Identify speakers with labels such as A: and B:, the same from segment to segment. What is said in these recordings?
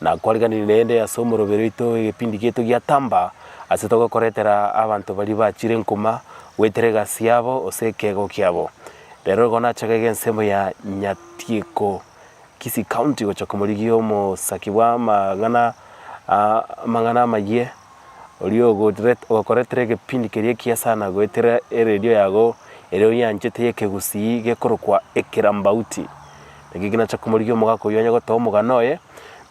A: na kwariganirie neende ase omoroberi oito egepindi giaito gia tamba, ase togokoretera abanto baria bachire enkuma goetera egasi yabo gose ekeegwa kiabo. Rero igo nachakege ensemo ya Nyatieko, Kisii County, gocha komorigia omosaki bw'amang'ana amang'ana amayie, oria ogorete ogokoretera egepindi keria ekiya sana goetera eredio yago eria oyanchete y'ekegusii gekorokwa Ekirambauti. Eki kinache komorigia omogaka oyio onye gotoa omogano oye,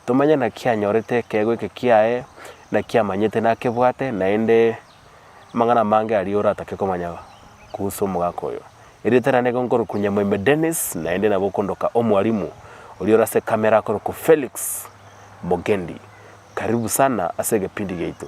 A: tomanye naki anyorete ekeegwa eke kiaye, naki amanyete nakebwate, naende amang'ana amange aria oratake komanya kuhusu omogaka oyo. Erieta riane nigo nkorokwa Nyamwaime Dennis, naende nabo okondoka Omwalimu, oria ore ase ekamera akorokwa Felix Mogendi. Karibu sana ase egepindi giaito.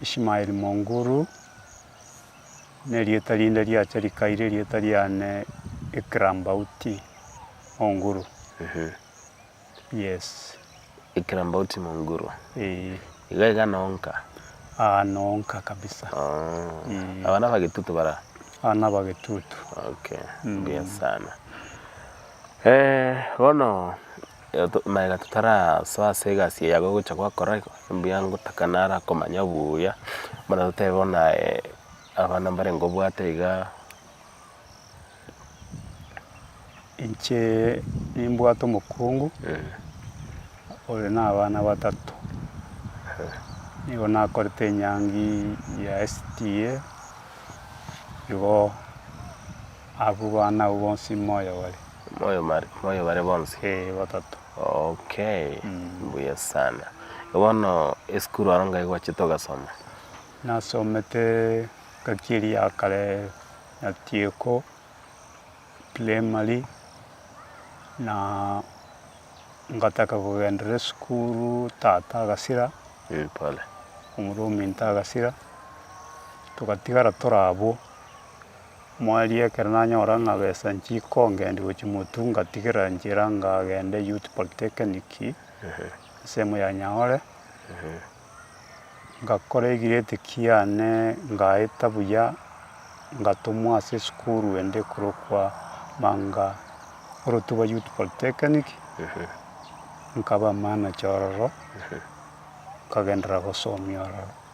B: Ishmael Monguru, nerieta rinde riacha rikaire rieta riane Ikram Bauti Monguru. Yes. Ikram Bauti
A: Monguru. Eeh. Iga iga nonka. Aa nonka
B: kabisa. Ooh. Aba
A: nabagetutu bara? Aa nabagetutu.
B: Okay.
A: Mbuya sana. Eeh bono Maega totarasoa ase egasi eye yago gocha gwakora iga, mbuya ngotaka naro akomanya buya, buna totebe bono aye abana mbare ngobwate iga,
B: incheeee nimbwate omokungu ore na abana batato, nigo nakorete enyangiiii ya SDA, igo abwo bana abwo bonsi moyo bare. Moyo
A: bare bonsi? Ee, batato.
B: Okay,
A: mbuya sana. Bono esukuru aro ngai gwachete ogasoma? Nasomete
B: engaki eria ya kare ya Tieko primary, na ngataka kogenderera esukuru tata agasira, omorwa
A: ominto
B: agasira, togatigara tore abwo. Mwaria ekero nanyora ng'a besa nchikongendi gochia Motu ngatigerera nchera ngagende Youth Polytechnic ensemo ya Nyaore, ngakora egreat kiane ngaeta buya ngatomwa ase esukuru ende ekorokwa Manga Orotuba Youth Polytechnic nkaba manager ororo nkagenderera gosomia ororo.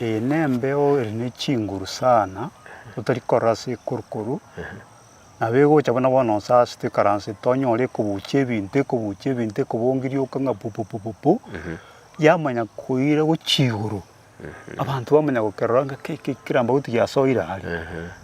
B: Ee, nembeo ere ne chinguru sana, otari korora ase ekoru-koru, nabo egocha buna bono nse ase toikaransete, onyore ekobucha ebinto, ekobucha ebinto, ekobongirioka ng'a pu pu pu pu pu, yamanya koira gochia igoro, abanto bamanya gokerora ng'a kei kei kera mbagotu giasoire aria.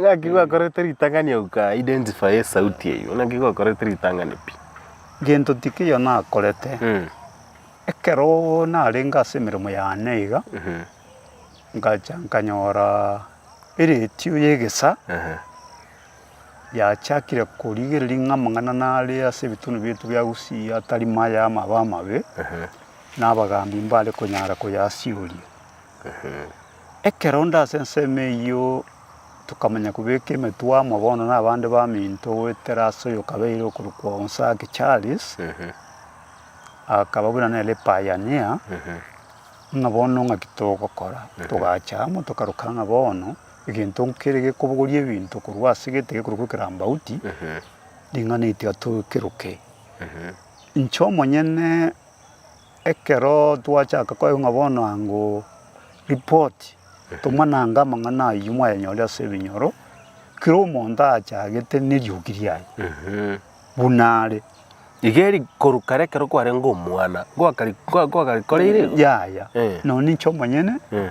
A: Ng'aki gwakorete ritang'ani agwo ka identify esauti eyio, ng'aki gwakorete ritang'ani pi. Gento tikio
B: nakorete, ekero narenge ase emeremo yane iga, ngacha nkanyora eratio y'egesa. yachakire korigereria ng'a amang'ana nare ase ebitunwa biaito bia Gusii atari maya ama abe amabe, na abagaambi mbare konyara koyasioria. Ekero onde ase ensemo eyio tokamanya kobeka emetwe amo bono na abande baminto goetera ase oyokabeire okorokwa Onsagi Charles, akaba buna nere pioneer, ng'a bono ng'aki togokora? Togacha amo tokaroka ng'a bono. egento nkere gekobogoria ebinto korwa ase egete gekorokwa ekerambauti, ring'ana erio tikeroke. Inche omonyene ekero twachaka koigwa ng'a bono ango ripoti, tomanange amang'ana ayio mwayanyore ase ebinyoro, kera omonto achagete neriogi riaye buna are. Iga
A: eri korwa kare ekero kwarenge omwana, ngoakari- ngoa- ngoakarikoreire igo? Yaya, Eh.
B: nonye inche omonyene Eh.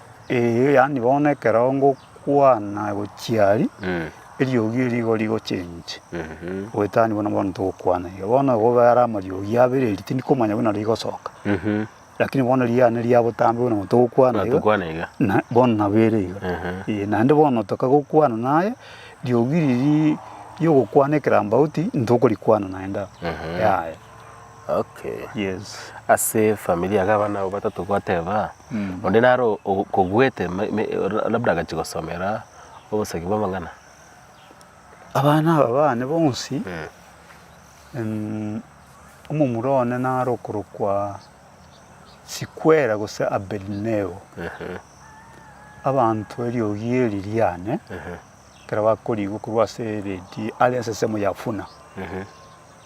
A: Erio
B: yaani bono ekero ngokwana gochia aria, eriogi eri igo rigochenche, goetania buna bono togokwana iga. Bono ekobera are amariogi abere eri tindi komanya buna rigosoka, rakini bono eria yane ria botambe buna bono togokwana iga, Tokwana iga. na
A: bono nabo
B: ere iga. Ee, naende bono toka gokwana naye, riogi riria riogokwana ekerambauti, ntokorikwana naende abwo. Yaya. Okay.
A: Yes.
B: Ase family
A: iga abana abo batato gwateba Mm. onde nare o- o- kogwete me- me- ra- labda agachi gosomera obosegi bwa amang'ana. Abana aba
B: bane bonsi Mm. em, omomura one nare okorokwa Sikwera gose Abednego. Ehe. Abanto eriogi eri riane Ehe. ekero bakoriigwa korwa ase eredi are ensesemo ya Funa. Ehe.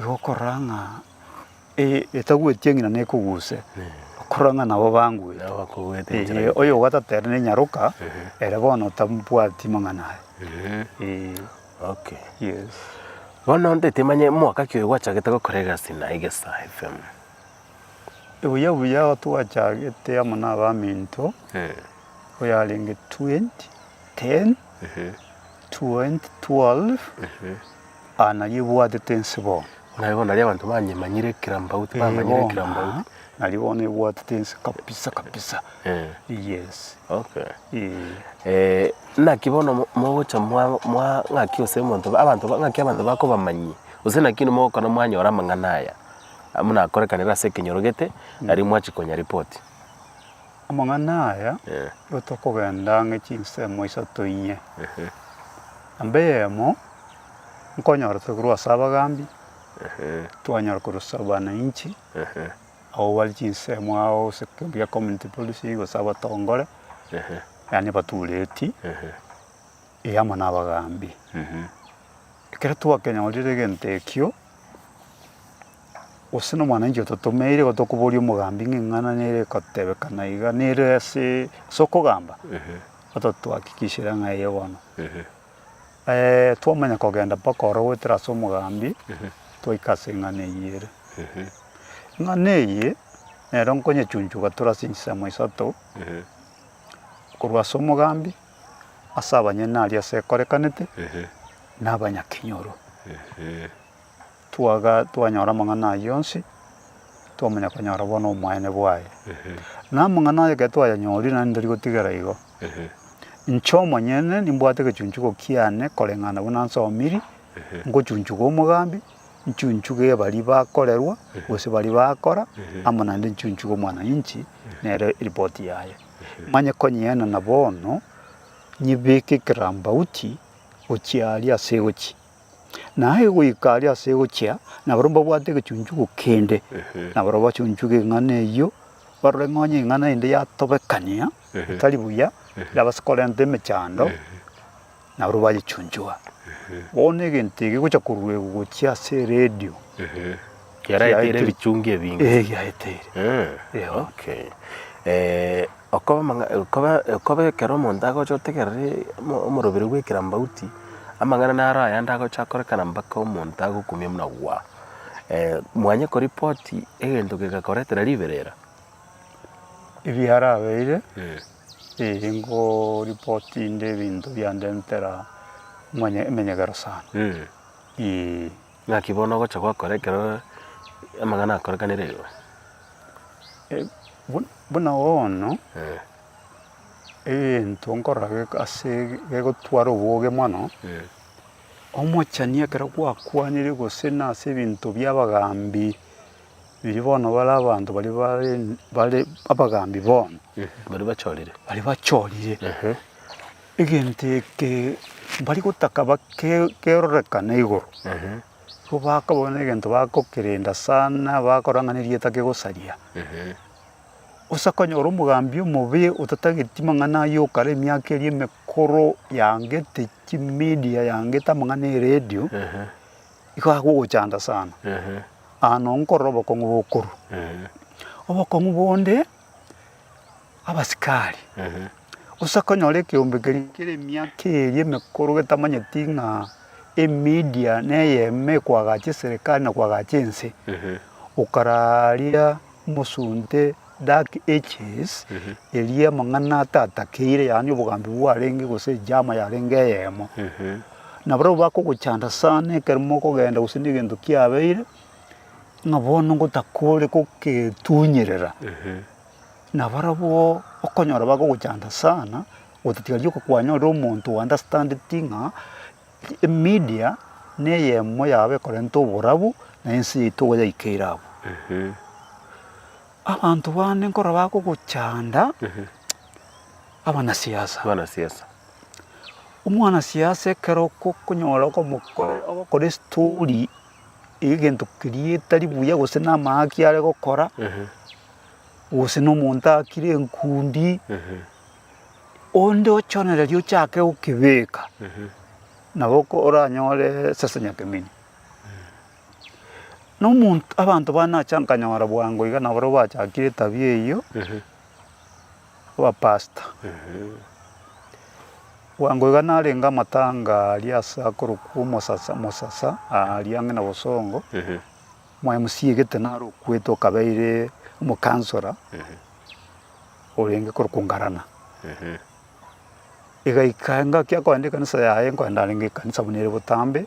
B: Igokorora ng'a etagweti eng'ina nekoguse, okorora ng'a nabo bangwete. Nabo bakogwete Ee, enchera engiya.
A: oyo ogatata ere
B: nenyaroka, ere bono tabwati mang'ana aye. Ee,
A: Okay. yes.
B: Bono nde
A: timanye mwaka ki oyo gwachagete gokora egasi na Egesa FM. Ebuya buya
B: aho twachagete amo na abaminto, oyarenge 2010, 2012, Aa, nario ebwatete ense bono. Naye bono nario abanto
A: banyemanyire ekirambaut, Ee, bamanyire bono, ekirambaut. aa, nario bono ebwatete
B: ense kabisa kabisa. Eh. Yes. Okay.
A: Ee. Eh, naki bono mo- mogocha mwa- mwa- ng'aki gose omonto ba- abanto ba- ng'aki abanto bakobamanyia, gose naki oino mogokora mwanyora amang'ana aya, buna akorekanire ase ekenyoro gete, nario mwachia konya ripoti.
B: Amang'ana aya rotokogenda ang'e chinsemo isato inye, namba eyemo nkonyora tokorwa ase abagambi, twanyora korwa ase abananchi, abwo bare chinsemo ao gose ekeonto gia community policing gose abatongore, yaani abatureti, eh, amo na abagambi. Ekero twakenyorire egento ekio, Gose nomwananchi ototomeire gotokoboria omogambi ng'a eng'ana nere ekotebeka na iga, nere ase ase okogamba, ototuhakikishera ng'a eye bono. Twamanya kogenda mpaka ororo goetera ase omogambi, twaika ase eng'ana eyio ere. Eng'ana eye nero nkonyechunchuga tore ase enchisemo isato, korwa ase omogambi, ase abanyene aria ase ekorekanete, na abanyakenyoro. Twaga twanyora amang'ana ayio onsi, twamanya konyora bono omoyene bwaye. Na amang'ana aye ekero twayanyorire, naende tari gotigera igo, inche omonyene nimbwate egechunchugo kiane koreng'ana buna nsomiri, ngochunchuga omogambi, nchunchuge ebaria bakorerwa, gose baria bakora, amo naende nchunchuge omwananchi nere eripoti yaye, manye konyienana bono nyebeke ekerambauti gochia aria ase egochia. Na aye goika aria ase gochia, nabarabwo mbabwate egechunchugo kende, na barabwo bachunchuge eng'ana eyio, barore ng'a onye eng'ana ende yatobekania otari buya, yabasa korenta emechando, nabarabwo bayechunchuga. Bono egento eke gocha koruegwa gochia ase eredio.
A: Kiaraeteire ebichungi ebinge. Eeh, kiaraeteire.
B: Eeh, Eeh, okay.
A: Eh, Okoba amang'a okoba okoba ekero omonto agocha otegereri omo omorobere bw'ekerambaguti, amang'ana naro ayande agocha akorekana mpaka omonto agokumia buna gwa. mwanye koripoti egento kegakoretera riberera, ebiarabeire
B: eeh ngoripoti inde ebinto biandentera omanye emenyegero sana eeh. Ng'aki
A: bono ogocha gokora ekero amang'ana akorekanire igo?
B: Buna bono egento nkorora ase gegotwara oboge mono, omochani ekero gwakwanire gose na ase ebinto bia abagambi, erio bono bare abanto baria bare abagambi bono. Baria bachorire.
A: Baria bachorire.
B: Egento eke mbari gotaka bakerorekane igoro, nigo bakabona negento bagokerenda sana, bakora ng'a nerieta kegosaria. Gose akonyora omogambi omobe otatageti mang'ana ayio okare emiaka eria emekoro yangete chimedia, yangete amang'ana eredio, igo agogochanda sana. Nkorora obokong'u bokorwa. Obokong'u bonde. abasikari, gose akonyora ekeombe keria kere emiaka eria emekoro getamanyeti ng'a emedia neyemo ekoagacha eserekari na koagacha ense, okararia mosunte dark ages eria amang'ana atatakeire yaani obogambi bwarenge gose ejama yarenge eyemo. Na barabwo bakogochanda sana ekero mokogenda gose na egento kiabeire. ng'a bono ngotakore goketunyerera, nabarabwo okonyora bagogochanda sana, otatiga rioka kwanyorire omonto o understandeti ng'a emedia na eyemo yabo ekorenta oborabu na ense yaito igo yaikeire abwo. Abanto bande nkorora bagogochanda abanasiasa, omwanasiasa ekero okonyora ogokoraa estory. egento keria etari buya gose namaaki are gokora, gose na omonto akire enkundi, onde ochonereria ochake gokebeka, nabo ko- oranyore sasa nyakemeni. Na omonto abanto bane nacha nkanyora bwango iga nabarabwo bachakire etabia eyio. Abapastor. Bwango iga narenge amatanga aria ase akorokwa omosasa mosasa aria ang'e na bosongo, Omo MC egete naro okwete okabeire omo councilor orenge korokwa Ngarana. Egaika engaki akoenda ekanisa yaye nkoenda arenge ekanisa buna ere botambe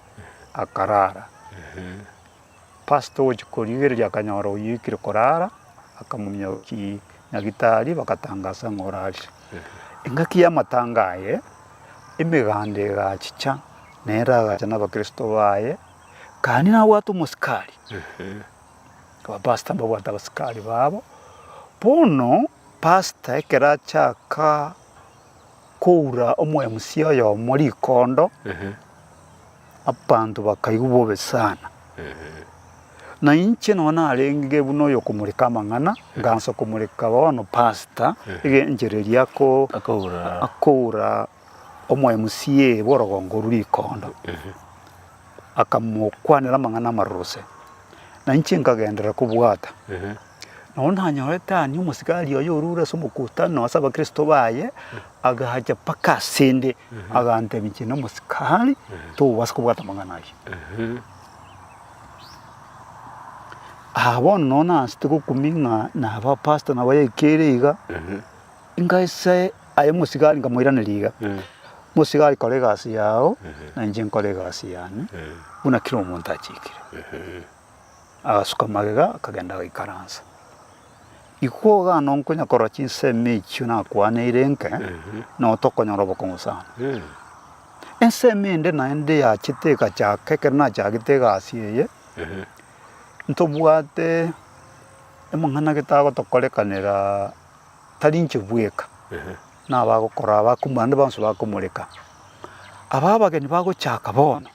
B: akarara. Pastor ogochia korigereria akanyora oyio oikire korara, akamumia ki nyagitari bagatangasa ng'a orarire. Engaki y'amatanga aye emeganda egachicha nere agacha nabakristo baye, kani nabwate omosikari. Aba pastor mbabwate abasikari babo. Bono pastor ekero achaka. koura omwemusia oyomo rikondo, abanto bakaigwa bobe sana. Na inche nonya narenge buna oyokomoreka amang'ana, ngansa komoreka bono pasta egenchereria akoura omwemusia ee bw'orogongo orwo rikondo, akamokwanera amang'ana amaroro ase. Na inche nkagenderera kobwata. Nabo nanyorete aania omosigari oye orure ase omokutano ase abakristo baye, agacha mpaka asende, agantebia inche nomosikari, togobasa kobwata amang'ana ayio. Aa bono nonye naanchete gokumia ng'a naba apasto nabo yaikere iga, nkaisa aye omosigari nkamoiraneria iga, Mosigari kora egasi yao, na inche nkore egasi yane, buna kera omonto achikire. Agasuka magega, akagenda agaikaransa. Ikwo iga nonkonya korora chinsemo echio nakwaneire nke, nao tokonyora obokong'u sana. Ensemo ende naende yachete egachaka ekero nachagete egasi eye, ntobwate amang'ana getagotokorekanera tari inche bweka, nabagokora abakumia bande bonsi bakomoreka. Aba abageni bagochaka bono.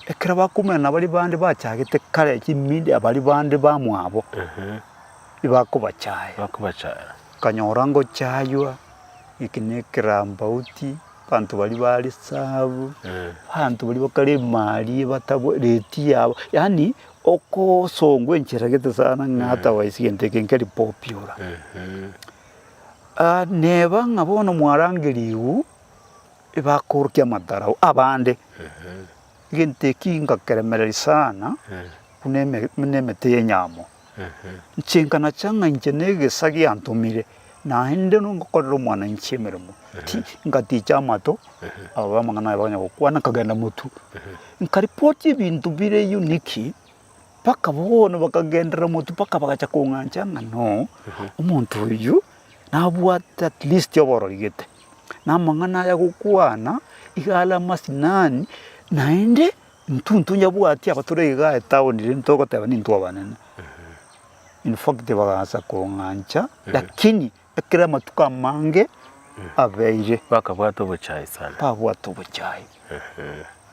B: Ekero bakoumera na baria bande bachagete kare chimindi abaria bande bamwabo tibakobachaya. Bakobachaya. Okanyora ngochaywa eki ne ekerambauti, abanto baria ba risabu, abanto baria bakare emari ebatabwereti yabo, yaani okosongwa enchera gete sana ng'a hata waisa egento eke nkeri popular. Neba ng'a bono mwarangerigwe Ebakorokia amatarau abande, egento eki ngakeremereria sana buna emete y'enyamo. Nchenka nacha ng'a inche negesa giantomire, naende ngokorera omwananchi emeremo. Ngaticha amato ababe amang'ana aye bakanya gokwana nkagenda motu. Nkaripoti ebinto bire unique mpaka bono bakagenderera motu mpaka bagacha kong'ancha ng'a no, omonto oyio nabwate at least oborori gete. namang'ana aya gokwana, iga are amasinani, naende intwe ntonyabwati aba tore iga etaoni rende ntogoteba nintwe abanene. In fact bagaansa kong'ancha, lakini ekero amatuko amange abeire. Bakabwata obochai
A: sana. Babwate obochai.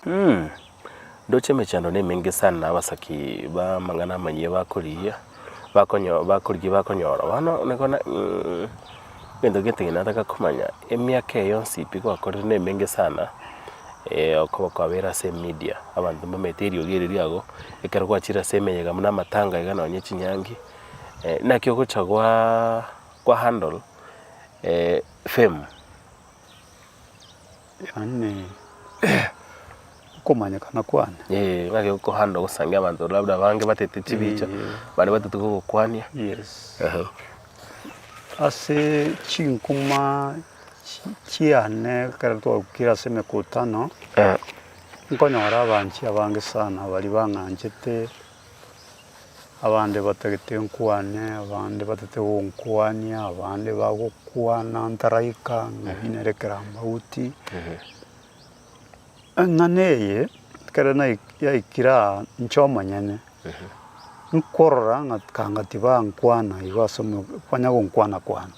B: Inee!
A: Ndoche emechando nemenge sana na abasaki b'amang'ana amanyia bakorigia bakonyo bakorigia bakonyora bono nigo na Inee! Egento gete gento nataka komanya emiaka eye yonsi pi gwakorire nemenge sana okoba kwabeire ase emedia abanto mbamanyete eriogi eri riago ekero gwachire ase emeyega buna amatanga iga nonye chinyangi naki ogocha gwaa gwa handle fame.
B: Yaani okomanyekana kwane. Ee, ng'ake okohanda
A: ogosangia abanto labda abange batete chibicha, abande batete kogokwania. Yes. Ehe.
B: Ase chinkuma chi- chiane ekero twaikire ase emekutano, Eh, nkonyora abanchi abange sana baria bang'anchete Abande batagete nkwane, abande batete gonkwania, abande bagokwana ntaraika ng'ai nere kerambauti. Eng'ana eye ekero nai- yaikire aa inche omonyene, nkorora ng'a kanga tibankwana igo ase omo kwanya gonkwana kwane.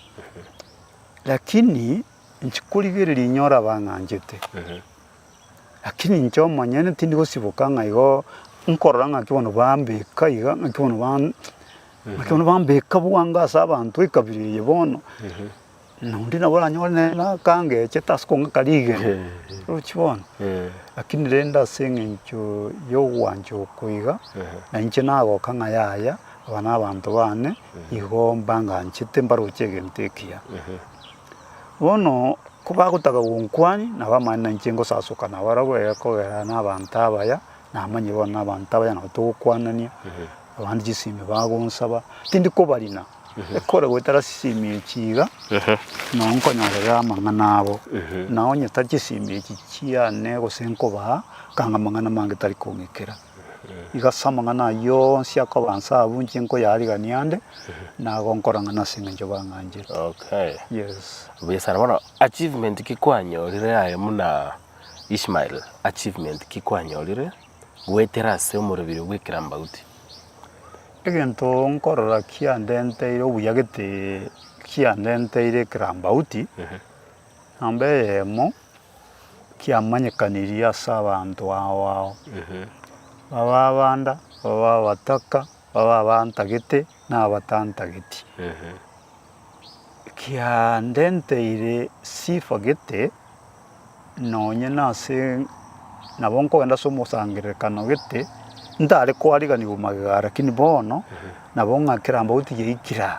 B: Lakini inche korigereria inyora bang'anchete. Lakini inche omonyene tindi gosiboka ng'a igo nkorora ng'aki bono bambeka iga, ng'aki bono ban- ng'aki bono bambeka bwango ase abanto ekabira eye bono, na onde nabo oranyore nere na akangechete ase okong'aka rigena, orochi bono. Lakini rende ase eng'encho y'ogwancha oko iga, na inche nagoka ng'a yaya, aba nabanto bane, igo mbanganchete mbaroche egento ekiya. Bono kobagotaka gonkwania, nabamanye na inche ngosasoka nabarabwo, egekogera nabaanto abaya, namanye bono nabaanto abaya nabo togokwanania, abande chisemi bagonsaba, tindi kobarina, ekore goetera chisemi echi iga, nao nkonyorera amang'ana abo, na onye tari chisemi echi chiane gose nkobaa, kanga amang'ana amange tari kong'ikera. Igo ase amang'ana ayio onsi akoba inse abwo inche nkoyaarigania ande, na igo nkora ng'a nase engencho bang'anchete. Okay. Yes.
A: Buya
B: sana. Bono
A: achievement ki kwanyorire aye buna Ishmael, achievement ki kwanyorire goetera ase omorobio bw'ekerambauti? Egento
B: nkorora kiandenteire obuya gete kiandenteire ekerambauti. Nyomba eyemo tiamanyekanirie ase abanto ao ao, babe abanda, babe abataka, babe abantagete, na abatantageti, ekiandenteire sifa gete, nonye nase nabo nkogenda ase omosangererekano gete, ntare koariganiwa magega, lakini bono nabo ng'a kera mbauti yaikire aa.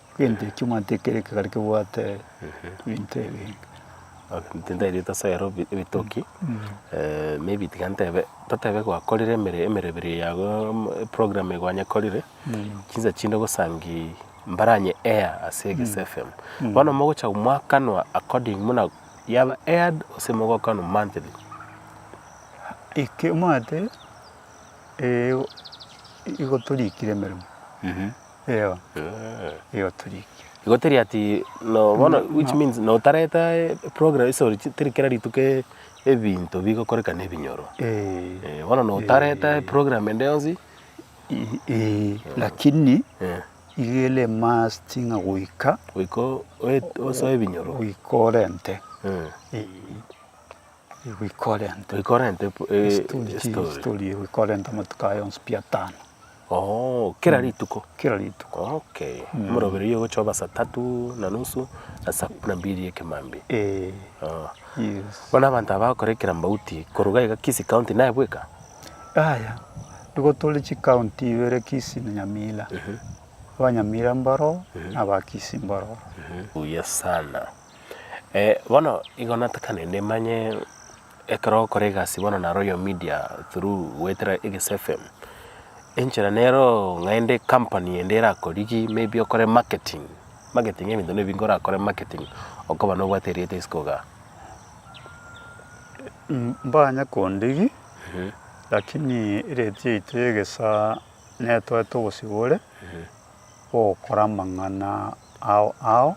B: Egento ekio omanyete ekero ekegari kebwate ebinto ebi inche
A: ntaereirete ase ayaroo ebi- ebitoki maybe tiga ntebe, totebe gwakorire emere emerebere eye yago mo- eprogram eye gwanyekorire, chinsa chinde ogosangiii mbaranye air ase eges fm. Bono mogocha mwakanwa according muna yaba aired gose mogokanwa monthly. Eke
B: omanyete, igo torikire emeremo. Eyo, eyo torikia. Igo teri ati
A: no bono No, which no. means no tareta program sorry chi- teri kera rituko e- ebinto bigokoreka na ebinyoro. Eh, Eh, bono no tareta program ende yonsi. i- eh,
B: lakini Eh, igere must ng'a goika goika o- oe-
A: osoe ebinyoro. goika orente. Eh.
B: Eh, Igwikorenta. Igwikorenta epo- e- Estori chi- estori. estori igwikorenta amatuko aya onsi pi atano Oh,
A: kera rituko. kera rituko. Okay.
B: Morobererio
A: ogochoba saa tatu na nusu na saa kumi na mbili ekemambia. Eh, Oh.
B: yes. Bono abanto aba
A: bakora ekerambauti koruga iga Kisii County naye bweka? Yaya,
B: nigo tore chikaunti ibere Kisii na Nyamira. Abanyamira mbaro na aba Kisii mbaro. Buya
A: sana. bono igo natakanete manye ekero ogokora egasi bono na royal media through goetera eges fm, enchera neroo ng'ende ekampani ende erakorigie maybe okore marketing, marketing ebinto na ebinge orakore marketing okoba nobwate erieta isiko igaa.
B: Mbanye kondigia lakini erate yaito ya egesaa netoete ogosibore. gokora amang'ana ao ao,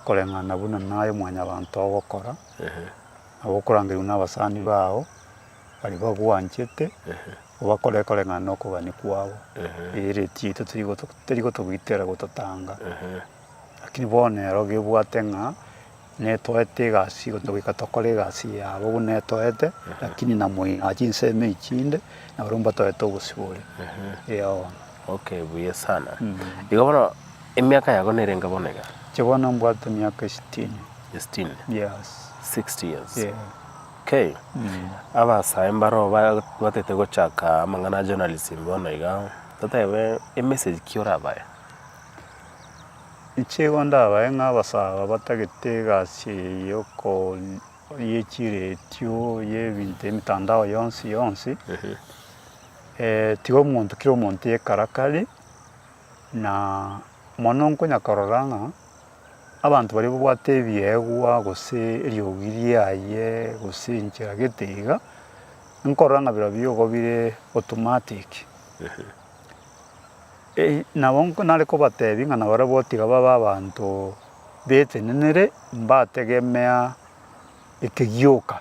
B: koreng'ana buna naye Omwanyabanto ogokora, nabo okorangerigwa nabasani bao baria bagwanchete, obakore koreng'ana nokogania kwabo, erio eretii torigotogoitera gototanga. Lakini bono ero gebwate ng'a Netoete egasi igo togoika tokore egasi yabo buna etoete, lakini na moino aa chinsemo echi chinde naboro mbotoete obosibore. Ee bono.
A: Okay, buya sana. Igo bono emiaka yago nerenge bono iga? Inche bono mbwate
B: emiaka esitini. Esitini? Yes.
A: Sixty years? Yeah. Okay. Abasae mbaroo batete gochaka amang'ana a journalism bono iga, totebe emessage ki orabae?
B: Nichigo ndabae ng'abasaaba batagete egasi eye ye chiretio y'ebinto emitandao yonsi yonsi, tiga omonto kera omonto yekarakari, na mono nkonya korora ng'a abanto baria babwate ebiegwa gose eriogi riaye gose enchera gete iga, nkorora ng'a birobio igo bire automatic. Nabo nare kobateebie ng'a nabarabwo gotiga babe abanto betenenire, mbategemea ekegioka,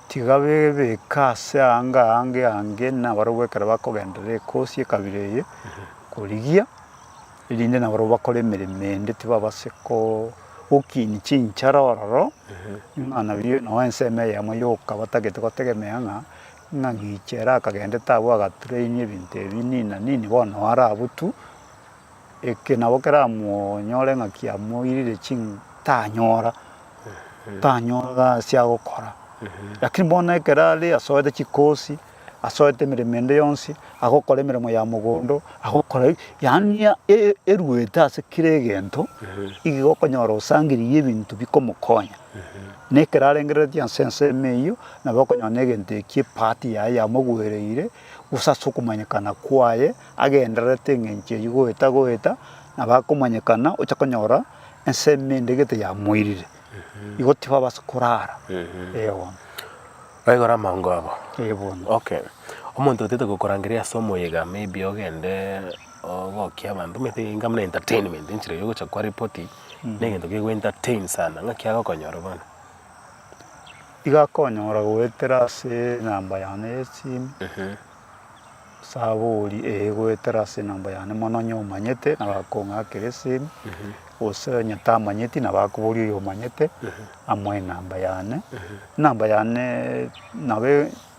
B: tiga bebeke ase aanga aanga eange, nabarabwo ekero bakogenderera ekosi ekabira eye korigia, erinde nabarabwo bakore emeremo ende tibabase gokiini chinchara ororo, ng'a nabio nao ensemo eyemo yoka batagete gotegemea ng'a. Ng'a gicha ere akagendete abwo agatrain ebinto ebi nina nini bono naro abwo tu eke nabo keramonyore ng'a kiamoirire ching'u tanyora tanyora ase agokora lakini bono ekero are asoete chikosi asoete emeremo ende yonsi agokora emeremo ya mogondo agokora eg yaani eruete ase kera egento igo okonyora osangeririe ebinto bikomokonya na ekero arengereretie ase ensemo eywo. nabo okonyora egento ekio epart yaye yamogwereire gose ase okomanyekana kwaye agendererete eng'encho eyio goeta goeta nabo akomanyekana ocha konyora ensemo ende gete yamoirire igo tibabasa korara ee bono. Baigora
A: amaongo abo. Ee bono. Okay. Omonto otete gokorangeria ase omoyega maybe ogende ogokia abanto maybe enga buna entertainment enchera ya ogocha kwa ripoti mm. negento kegoentertain sana ng'aki agokonyore bono. Iga
B: konyora goetera ase enamba yane y'esimu, osabori ee goetera ase enamba yane mono onye omanyete nabo akong'akera esimu, gose onye tamanyeti nabo akoboria oyo omanyete amoe enamba yane. Enamba yane nabo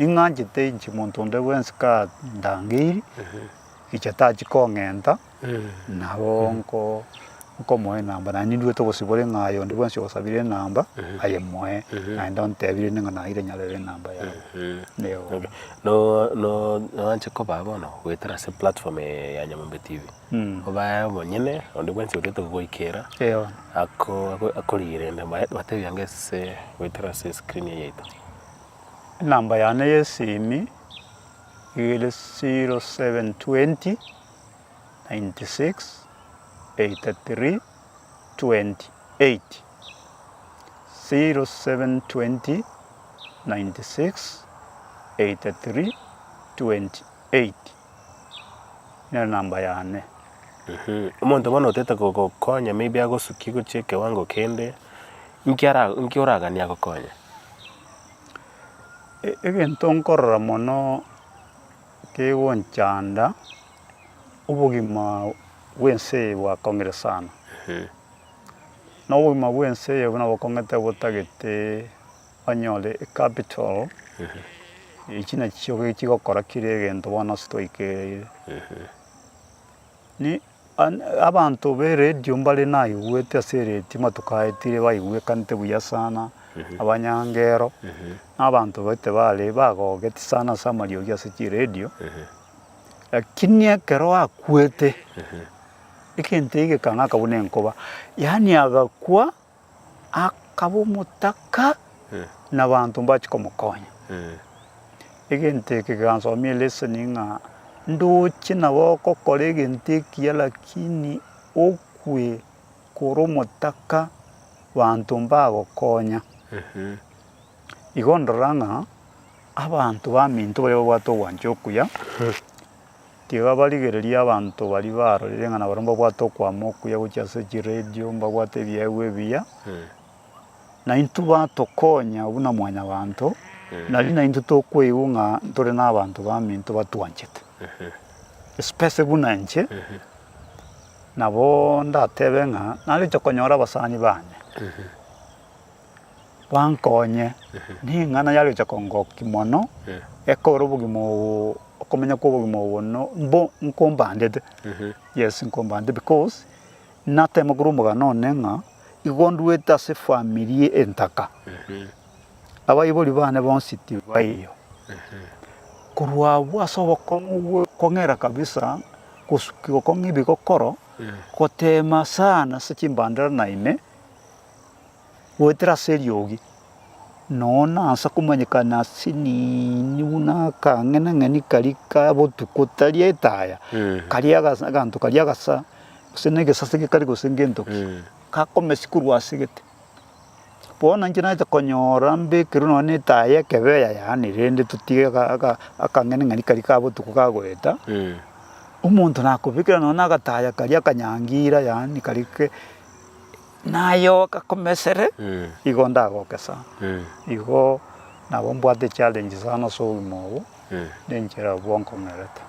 B: ing'anchete inche monto onde bwensi ka ndangeirie, inche tachi kong'enta. Nabo nkomoa enamba, naende nindwete obosibore ng'a aye onde bwensi ogosabire enamba, aye moe, naende ontebire inde ng'a naeire nyarebe enamba yabo. Eeh.
A: Noanche koba bono goetera ase platform eye ya Nyamombe TV, obae omonyene, onde bwensi otagete kogoikera, akorigerere, batebia nge ase goetera ase escreen eye yaito.
B: Enamba yane y'esimi, nigo ere zero seven twenty. 0720 nero enamba yane. Omonto
A: bono otete gogokonya maybe agosukie gochia ekewango kende, inki ara inki oraganie agokonye?
B: Egento nkorora mono. kegonchanda, obogima bw'ense eye bwakong'ire sana. Na obogima bw'ense eye buna bokong'ete botagete onyore ecapital echi nachio chigokora kera egento bono ase twaikereire. Abanto b'eredio mbare naigwete ase eredio amatuko aya tire baigwekanete buya sana, abanyange ero na abanto baito bare bagogeti sana ase amariogi ase chiredio, lakini ekero akwete egento egekang'aka buna enkoba, yaani agakwa. akaba omotaka nabaanto mbache komokonya. Egento eke kegansomia eleseni ng'a ndoche nabo gokora egento ekiya lakini okwe kore omotaka baanto mbagokonya. Igo ndora ng'a abanto baminto baria babwate ogwancha okuya. Tiga barigererie abanto baria barorire ng'a nabarabwo mbabwate okwama okuya gochia ase chiredio, mbabwate ebiegwa ebiya, naintwe batokonya buna mwanyabanto, nari naintwe tokoigwa ng'a ntore nabanto baminto batwanchete. Especially buna inche, nabo ndatebe ng'a naroche konyora abasani bane. Bankonye, ning'ana yaroche kongokia mono, ekore obogima obo, okomenya kw'obogima obo no mbo nkombangete, yes nkombangete because natema korwa omogano one ng'a igo ndwete ase efamiri entaka, abaibori bane bonsi tibaiyo, korwa abwo ase obokong'u bwo kong'era kabisa gosuki gokong'a ebigokoro, gotema sana ase chimbandera naende. Goetera ase eriogi, nonya nansa komanyekana ase nini buna akang'enang'eni karia ka botuko tari etaya, karia aganto karia agasa, gose na egesase gekari gose ngento ki, gakomesi korwa ase egete. Bono inche naete konyora mbekerwe nonya na etaya ya ekebe eyayane rende totige akang'enang'eni karia ka botuko kagoeta, omonto nakobekera nonya na agataya karia akanyangira yaani karia ke. nayoka komesere, igo ndagogesa. Igo nabo mbwate echallenge sana ase obogima obo, na enchera abwo nkong'erete.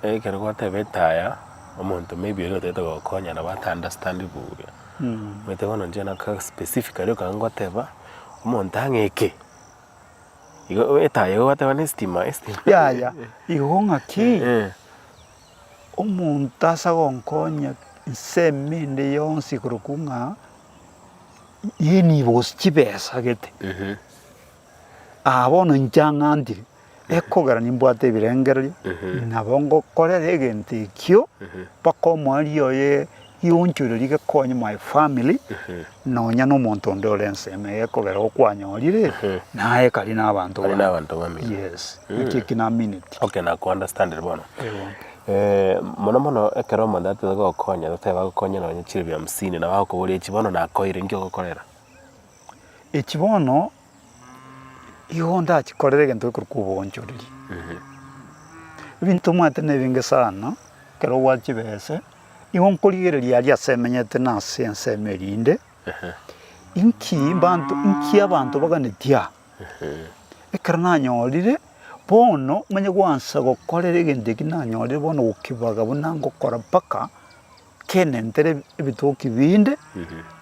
B: Ekero
A: gwatebete aya, omonto maybe oria otagete gogokonya nabo ata understand buya. Omanyete bono inche nabo ka specifically ekero ngoteba omonto ang'e eke, igo etaya igo gwateba na estima, estima. Yaya,
B: igo ng'aki? Omonto ase agonkonya ensemo ende yonsi korokwa ng'a nibo gose chibesa agete, aa bono inche ang'antire, ekogera nimbwate ebirengererio, nabo ngokorera egento ekio mpaka omwari oye. Yonchoreria gekonye my family nonya nomonto onde ore ensemo eye ekogera igo kwanyorire naye ekari na abanto Kari na
A: abanto bamino.
B: yes
A: naki
B: eki na
A: minute Okay, nakounderstandire
B: bono.
A: Ewo. Eh, mono mono ekero omonto atete gokonya totebe agokonye nonye chiribi hamsini nabo agokoboria echi bono nakoire, inki ogokorera? echi bono
B: Igo ndache korera egento gekorwa koboonchoreria. Ebinto omanyete nebinge sana, ekero ogwata chibese, nigo nkorigereria aria ase emenyete na ase ensemo erinde, inki mbanto, inki abanto baganeti aa? Ekero nanyorire, bono onye gwansa gokorera egento ekio nanyorire bono gokibaga buna ngokora mpaka. Kenentere ebitoki binde,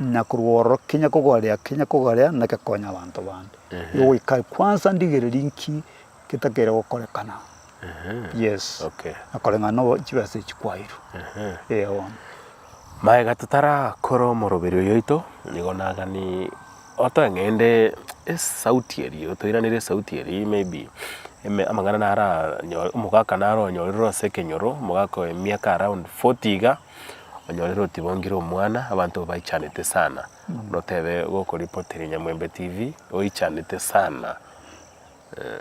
B: na korwa ororo kenya kogorea, kenya kogorea nake konya abanto bande. Igo goika kwansa ndigereri nki getakeire gokorekana. Yes. Na kore
A: ng'a no chibesa
B: echi kwairwe. Eeh bono.
A: Maega totarakora omoroberio oyoito, nigo nagani. Otang'ende esauti erio, toiranerie esauti eria maybe ime amang'ana naranyore omogaka naro onyorire ase ekenyoro, omogaka oye emiaka around forty iga, onyorire otibongire omwana, abanto baichanete sana, notebe gokoripoteria nyamwembe tv oichanete sana eh.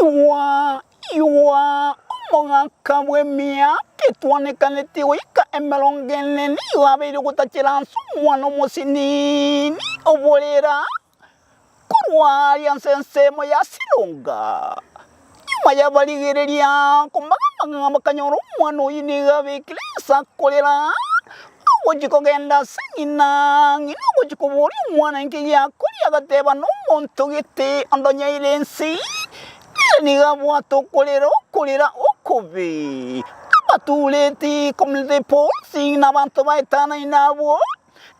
A: Igwa, igwa,
C: omogaka bw'emia etwanekaneti goika emerongo ene nigo abeire ogotachera ase omwana omosiniini oborera Korwa aaria nse ensemo yasiroka, nyuma y'abarigereria komagamaga bakanyora omwana oyio nigo abekire ense akorera, ogochia kogenda ase ng'ina, ng'ina ogochia koboria omwana inki giakoria, agateba nomonto gete ondonyeire ense eye, nere nigo abwate okorera okorera okobe, abatureti, community boards, na abanto baetanani nabwo.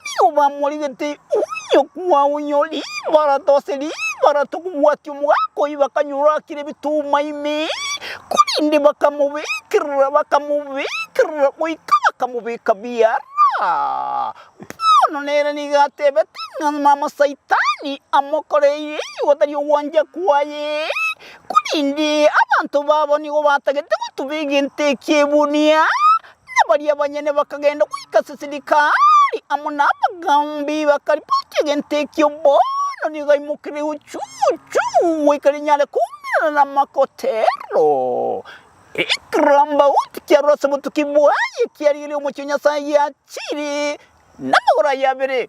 C: Tibamorigete onyokwa onyore ribarata ase ribarata okobwatia omogaka oyio bakanyora akire ebituma ime, korende bakamobekerera bakamobekerera goika bakamobeka biara. Bono nere nigo atebete ng'a namasaitani amokoreire igo tari ogwancha kwaye, korende abanto babo nigo batagete gotuba egento ekio ebunia. na baria banyene bakagenda goika Sisirikari amo nabagaambi bakaripoti egento ekio. Bono nigo aimokereigwe chuchu goika rinyare koumerana namakotero. Ekirambauti kiarure ase obotuki bwaye kiarigereire omochie o Nyasaye giachire namagoro aye abere.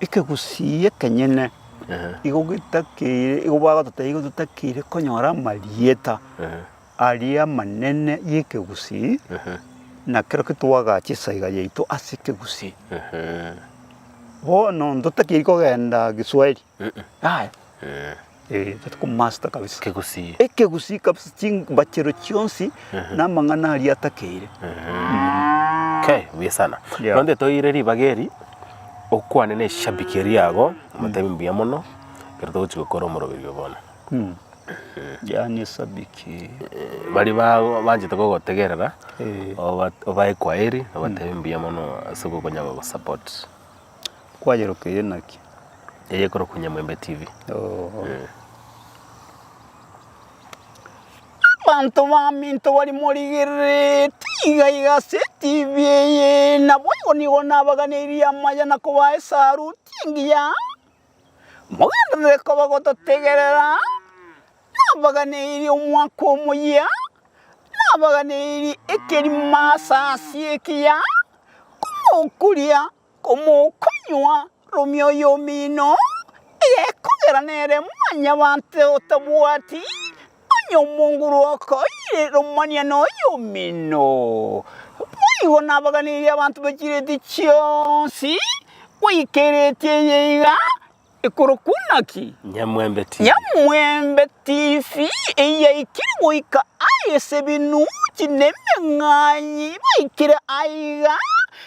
B: ekegusii ekenyene igo getakeire, igo bagototebia igo totakeire konyora amarieta aria amanene y'ekegusii, na kerokio twagacha esaiga yaito as'ekegusii. Bono ntotakeiri kogenda Giswahili. Aye. Eh. Eh, that ko master kabisa. Kegusii. Ekegusii
A: kabisa
B: chimbachero chionsi na amang'ana aria atakeire.
A: Okay, buya sana. Yeah. Ronde toire ribaga eri okwane na eshabiki eri ago omotemi mbuya mono ekero togochi gokora omoroberio bono.
B: Mm. Yani esabiki. Bari ba
A: banchete kogotegerera Eh. oba obae kwaeri obatemi mbuya mono ase okokonya gogosupport. Kwayerokeire
B: naki? Eye ekorokwa
A: Nyamwembe TV. Oo. Eh.
C: Abanto baminto bari morigerereti iga iga ase TV eye, naboigo nigo nabaganeirie amaya na kobaa esaruti engiya Mogenderere koba gototegerera, nabaganeirie omwaka omoyia, nabaganeirie ekerimo ase ase ekiya, komokuria, komokonywa, romia oyomino, egekogera nere mwanyabanto otabwati, Onye omonguru okoiire omoniene oye omino, boigo nabaganirie abanto be chireti chionsi, goika ereti eye iga ekorokwa naki? Nyamwembe
A: TV. Nyamwembe
C: TV eye yaikire goika aa ase ebinuchi na emeng'anyi baikire aiga,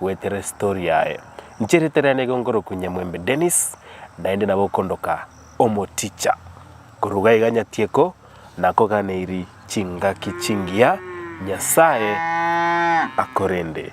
A: gweterere story yaye. Inche erieta riane nigo nkorokwa Nyamwembe Dennis, naende nabo okondoka Omoticha. Koruga iga Nyatieko nakoganeiri chingaki chingiya, Nyasaye akorende.